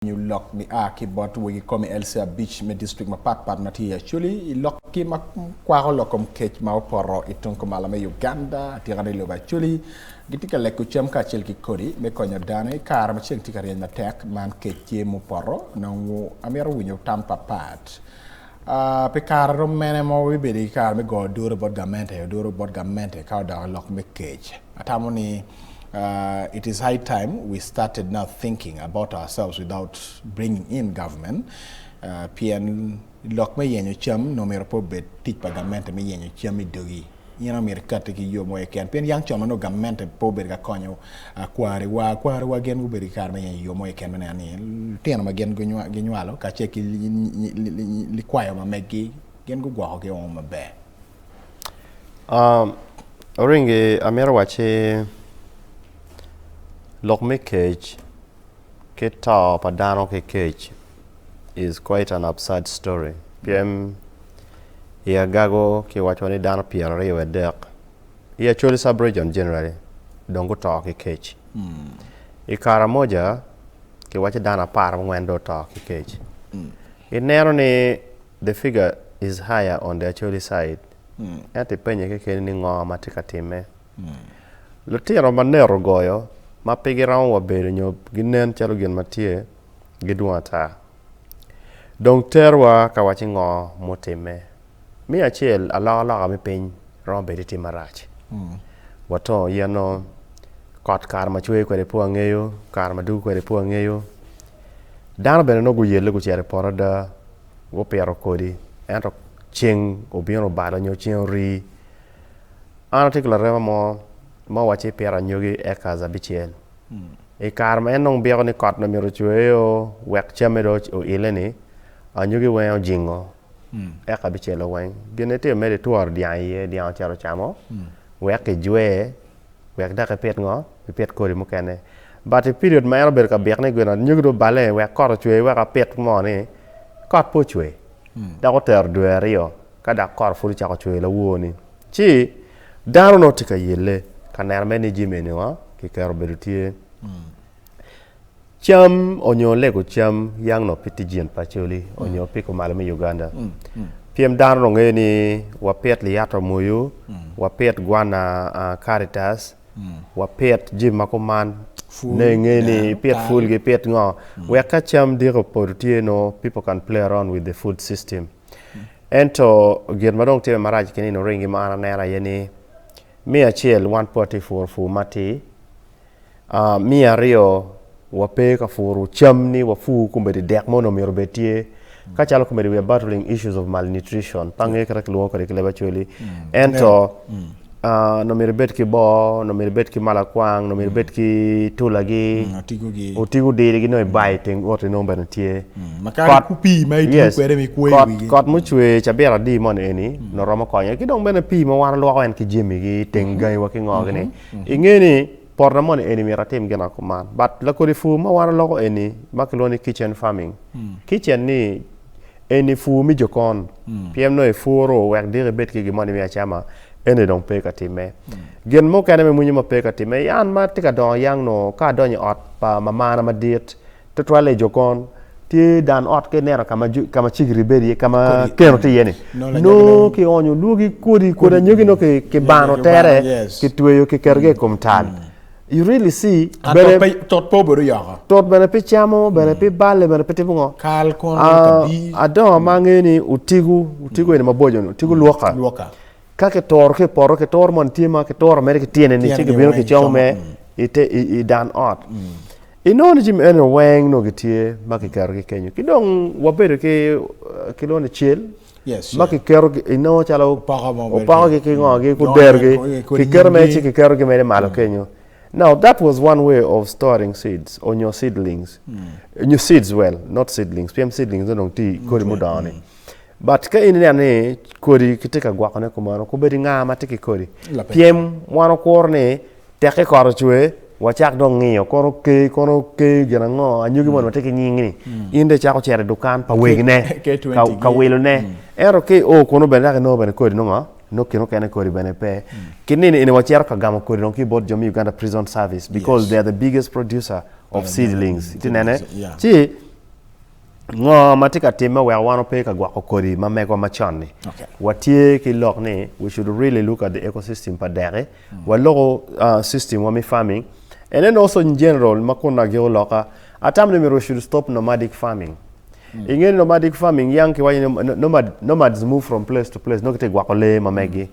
nyo lok gia ki bot wegi kome LC abic me district mapat pat ma tye i Acholi i lok gi ma kwako lok kom kec ma opoto i tung kumalo me Uganda atika ni lobo Acholi gitye ka leko cam kacel ki kodi me konyo dano i kare ma ceng tye ka ryeny matek man kec tye mupoto nongo amito winyo tam papat Pi kare romo mene ma wabibedo ki kare me goyo duru bot gamente? Duru bot gamente ka odoko i lok me kec. Atamo ni it is high time we started now thinking about ourselves without bringing in government pien lok me yenyo cam nongo myero pe obed tic pa gamente me yenyo cam i dogi. In omyero ikatti ki yo mo keken, pien yang con ma nongo gamente pe obedo ka konyo kwariwa. Kwariwa gin gubedo ki kare me yenyo yo mo keken me neno ni litino ma gin ginywalo kacel ki likwayo ma meggi gin gugwokogi woko maber. Oringi amito wacci lok me kec ki to pa dano ki kec. is quite an absurd story pien i agago kiwaco ni dano pyera aryo wa dek i acholi sub region generally dong guto ki kec i karamoja kiwaco dano apar angwen dong oto ki kec i neno ni the figure is higher on the acholi side ento ipenye kekeni ni ngo matye ka time. Lutino ma net ogoyo ma pe giromo wa bedo nyo ginen calo gin ma tye gidwong ata. Dong terwa ka wacci ngo mutimme. Me acel alokaloka me piny romo bedo tye marac. Watongo yen o, kot kare ma cwer kwede pe wangeyo, kare ma dugo kwede pe wangeyo. Dano bene nongo guyelle gucito i poto ada gupito kodi ento ceng obino obalo nyo ceng orii. An atye ki larema mo ma owacci ipito anyogi acres abicel. I kare ma en dong byeko ni kot myero ocweyo wek camme dong oile-ni, anyogi wenge ojingo acre abicel-lo weng. Gin ma itimo mere itworo dyang iye, dyang ocito ocamo wek ijwer wek dok ipit ngo? Ipit kodi mukene. But i period ma en obedo ka byek ni gin anyogi dong oballe wek kot ocwe wek apit ngo-ni, kot pe ocwe dok otero dwe aryo ka dok kot pud ocako cwer lawor-ni. Ci, dano nongo tye ka yelle ka neno mere ni jami eni wa kiketo obedo tye. Cam onyo lego cam yang nongo pe tye jin pa Acholi onyo pe kumalo me Uganda. Pien dano nongo ngeyo ni wapit liyato moyo, wapit gwana Karitas, wapit jami ma kuman. Nongo ingeyo ni ipit pul ki ipit ngo. Wek ka cam diki opoto tye nongo people can play around with the food system. Ento gin ma dong timme marac ki nino ringi ma an aneno aye ni, me acel wan pe watye ka puro pur matir, me aryo wape ka puro cam ni wapur komedi i dek mo nongo myero obed tye ka calo komedi we are battling issues of malnutrition pe angeyo kit ma kilwongo kwede ki leb Acholi ento Onongo myero ibed ki bor, onongo myero ibed ki malakwang, onongo myero ibed ki tulagi, otiko dirigi nongo ibayo i teng oti nongo bene tye. Kot mucwer cabit adi moni eni onongo romo konyo ki dong bene pii ma wan walwoko en ki jami ki teng gangi wa ki ngo-ni inge ni Poto moni eni myero atim gin akuman but lakodi pur ma wan oloko eni ma kilwongo ni kitchen farming. Kitchen ni eni pur me jokon pien nongo ipuro wek diki ibed ki gin moni me acama eni dong pe ka timme. Gin mukene me mwinyo ma pe ka timme yan ma tye ka dongo yang nongo ka adonyo i ot pa mamana madit Twatwal i Jokon, tye dan ot ka ineno ka ma ju- ka ma cigiri bedo iye, ka ma Kodi keno tye iye-ni. Nongo lanyogi Nongo nongo- kionyo lwogi kodi, kodi anyogi nongo ki- kibano Kibano, tere, yes. kitweyo kiketogi i kom tal. You really see, Ah, bene tot pe- tot pe obedo yoko. tot bene pi camo, bene pi balle, bene pi timo ngo. Kal kono Ah, kabi. adongo ma angeyo ni otigo, otigo eni maboco-ni, otigo lwoka. Lwoka. Ka kitoro ki i poto, kitoro moni tye ma kitoro mere ki tyene ni ci gibino kicomo me i dan ot. Inongo ni jami eni weng nongo gitye ma kiketogi kenyo. Ki dong wabedo ki kilwongo ni cel ma kiketo inongo calo opokogi ki ngogi ku derogi kiketo mere ci kiketogi mere malo kenyo. Now that was one way of storing seeds onyo seedlings, onyo seeds well not seedlings pien seedlings-ni dong tye kodi mudongo-ni. but ka in ineno ni kodi kitye ka gwokone kumeno kubed inga ma tye ki kodi pyem wan okuru ni teki kot ocwe wacak dong ngiyo kono oke kono oke gin ango anyogi moni watye ki nying ni in dong icako cito i dukan pa wegine ka wilone ento ka i o kunu bene dok inongo bene kodi nongo nongo kine mukene kodi bene pe ki nino eni wacito ka gamo kodi dong ki bot jo me Uganda prison service because they are the biggest producer of seedlings itye nene ci Ngo ma tye ka timme weko wan wape ka gwoko kodi ma megwa macon-ni? Okay. Watye ki lok ni we should really look at the ecosystem pa deki, waloko uh, system wa me farming and then also in general ma kun agiko loka atamo ni myero we should stop nomadic farming. Inge ni nomadic farming yang kiwaco ni no- nomad, nomads move from place to place nongo gitye gwoko lee ma meggi.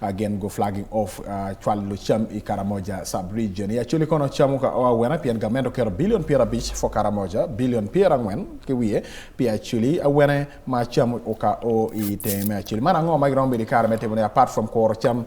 Agen go flagging off cwalo cam i Karamoja sub region i Acholi kono cam oka o awena pien gament oketo billion pyera abic for Karamoja, billion pyera angwen ki wiye pi Acholi awene ma cam oka o i tenge me Acholi. Man ango ma giromo bedo i kare me timo ne apart from kuro cam?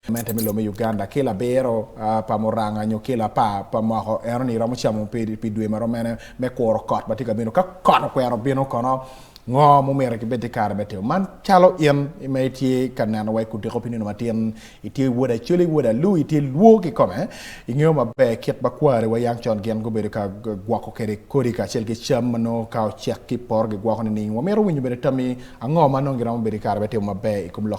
Gamente me lobo me Uganda ki labiro pa muranga nyo ki lapar pa moko eno ni romo camo pi dwe ma romo mene me kuro kot ma tye ka bino ka kot okwero bino kono. Ngo ma omyero kibed ki kare me timo man? Calo in ma itye ka neno wa i kudiko pi nino matin, itye wod Acoli, wod Alu, itye lwor kikome. Ingeyo maber kit ma kwariwa yang con gin gubedo ka gwoko kwede kodi kacel ki cam ma nongo ka ocek ki i poto gigwoko nining? Wamito winyo bene tammi ango ma nongo giromo bedo ki kare me timo maber i kom lok